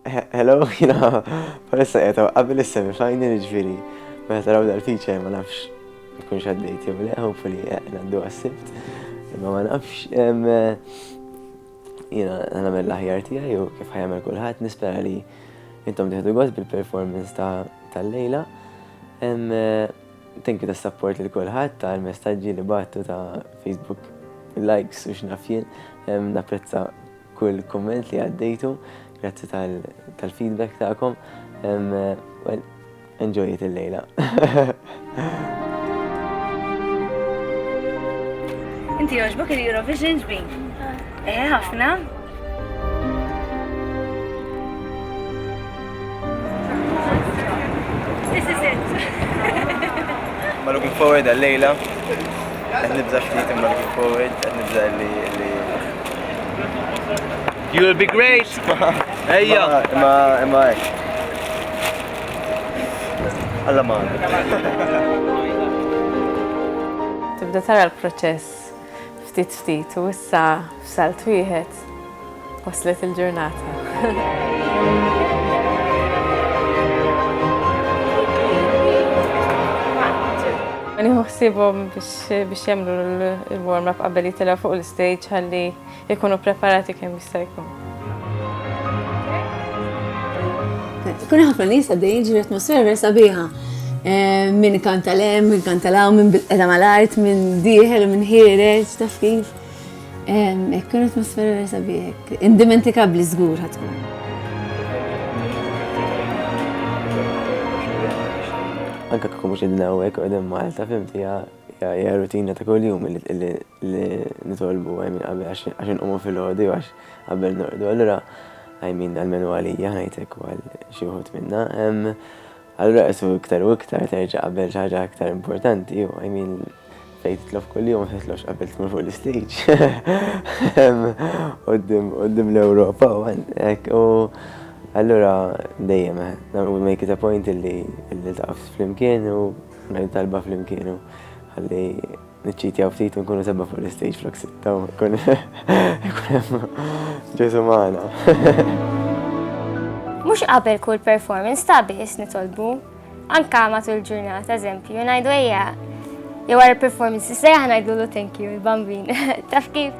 Hello, jina, palissa jgħetaw, qabel is-semi final ġviri, meta taraw dal-feature ma nafx, jkun xaddejt, jew le, hopefully, għaddu għassibt, imma ma nafx, jina, għana mill ħjar tija, jew kif ħajamel kullħat, nispera li intom diħdu għaz bil-performance tal-lejla. Thank you ta' support li kullħat, ta' l-messagġi li battu ta' Facebook, likes u xnafjien, napprezza Kull kumment li għaddejtu, grazzi tal-feedback tagħkom. Well, enjoy it il-lejla. Inti joġbok il-Eurovision ġbi? Eh, ħafna. This is it. Ma looking forward għal-lejla. Għed nibza xfit imma looking forward, għed nibza li li. You will be great! Ejja! Imma, imma, Alla ma. Tibda tara l-proċess ftit ftit u issa f'salt wieħed Waslet il-ġurnata. Nieħu ħsiebhom biex jagħmlu l-warm up qabel jitilgħu fuq l-istage ħalli jkunu preparati kemm jista' jkun. Kun ħafna nies għaddejjin ġifieri atmosfera sabiħa. Eh, min kanta lem, min kanta law, min bil-qeda mal-art, min dieħel, min ħiereġ, taf kif. Hekk kien atmosfera vera sabiħek. Indimentikabbli żgur ħatkun. Anka kieku mhux qegħdin hawnhekk qegħdin Malta fimti hija rutina ta' kuljum li nitolbu għajmin qabel għax inqumu fil-ħodu għax qabel norqdu. Allura għajmin għal-menu għalija ħajtek għal xi wħud minna. Allura qismu iktar u iktar terġa' qabel xi ħaġa iktar importanti, u I mean fejn titlob kuljum ma titlobx qabel tmur fuq l-istage. Qudiem l-Ewropa u hekk u allura dejjem we make it a point illi iltaqgħu flimkien u ngħid talba flimkien u ħalli Niċċitjaw ftit u nkunu sebba fuq l-istage flok sitta u kun ġesu maħna. Mux qabel kull performance ta' biss nitolbu, anka matul ġurnata, eżempju, najdu eja, jew għara performance, sejja ħanajdu l thank you, il-bambin, taf kif?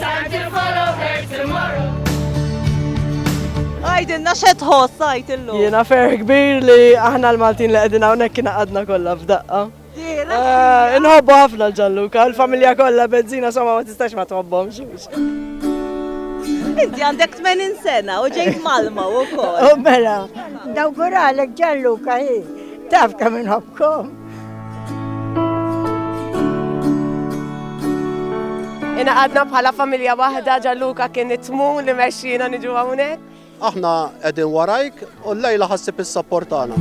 Time to follow her tomorrow. Għajdilna xe tħoss għajt illum. Jiena fer kbir li aħna l-Maltin li qegħdin hawnhekk kien għadna kollha f'daqqa. Eh, inħobbu ħafna l-ġalluka, l-familja kollha benzina somma ma tistax ma tħobbhomx. Inti għandek 80 sena u ġejt malma u kol. U mela, dawguralek ġalluka hi, taf kam inħobkom. Inaqadna bħala familja waħda ġalluka kien itmu li mexxina niġu hawnhekk. Aħna qegħdin warajk u l-lejla ħassib is-sapport tagħna.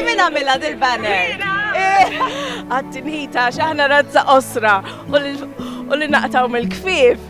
Min għamilha dil-banner? Eh, Għattinita x'aħna razza osra u li naqtaw mill-kfif.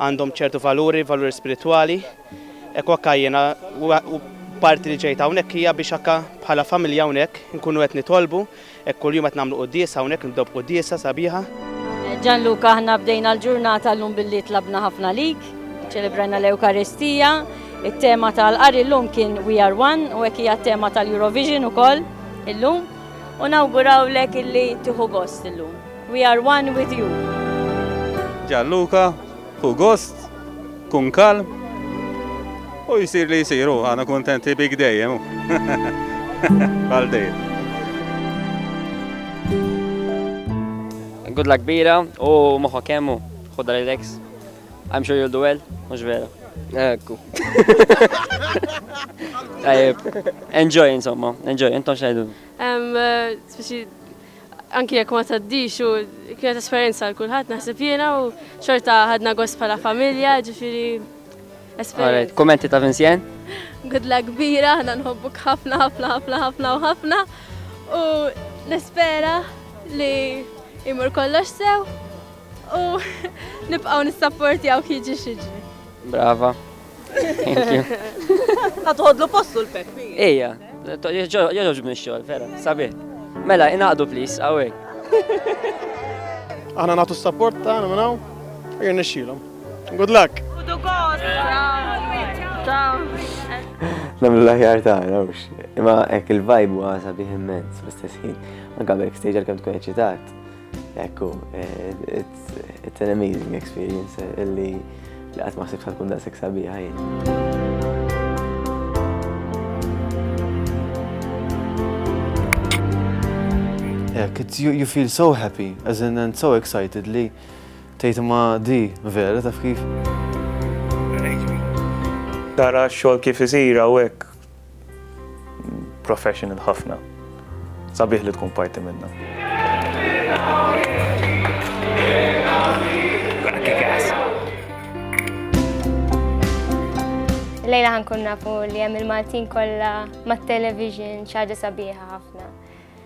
għandhom ċertu valuri, valuri spiritwali. Ekku akka jiena parti li ġejt hawnhekk hija biex akka bħala familja hawnhekk nkunu qed nitolbu, hekk kuljum qed nagħmlu quddiesa hawnhekk nibdew b'quddiesa sabiħa. Gianluca aħna bdejna l-ġurnata llum billi tlabna ħafna lik, ċelebrajna l-Ewkaristija, it-tema tal-qari llum kien We Are One u hekk hija t-tema tal-Eurovision ukoll illum u nawgurawlek illi tieħu gost illum. We are one with you. Gianluca, Ħu gost, kun kalm, u jsir li jsir, u aħna kuntenti bik dejjem. u. Bħal dejjem. Good luck kbira u moħħok kemm u ħodha relax. I'm sure you'll do well, mhux vera. Ekku. Tajjeb. Enjoy insomma, enjoy, intom xejdu. Em, eh, speċi Anki jekk ma tgħaddix u kienet esperjenza għal kulħadd naħseb jiena u xorta ħadna gost bħala familja, ġifieri esperjenza. Kummenti ta' Vincent? Gudla kbira, aħna nħobbuk ħafna ħafna ħafna ħafna u ħafna u nispera li jmur kollox sew. U nibqgħu nissapportjawk jiġi xiġi. Brava. Thank you. Ħa toħodlu postu l-Peppi. Ejja, joġobni x-xogħol, vera, sabi. Mela, inaqdu please, awek. Aħna nagħtu s-sapport tagħna minn hawn, jirnexxilhom. Good luck. Good luck. Namlu l-aħjar ta' nawx. Imma ek il-vibe huwa sabiħ immens fl-istess ħin. Anka backstage għal-kem tkun eċitat. Ekku, it's an amazing experience illi li għat maħsib sa tkun daqsek sabiħa jien. You, you feel so happy, as in and so excited li tejt ma di vera taf kif. Tara xol kif isira u hekk professional ħafna. Sabiħ li tkun parti minna. Lejla ħankun nafu li hemm il-Maltin kollha mat-television xi ħaġa sabiħa ħafna.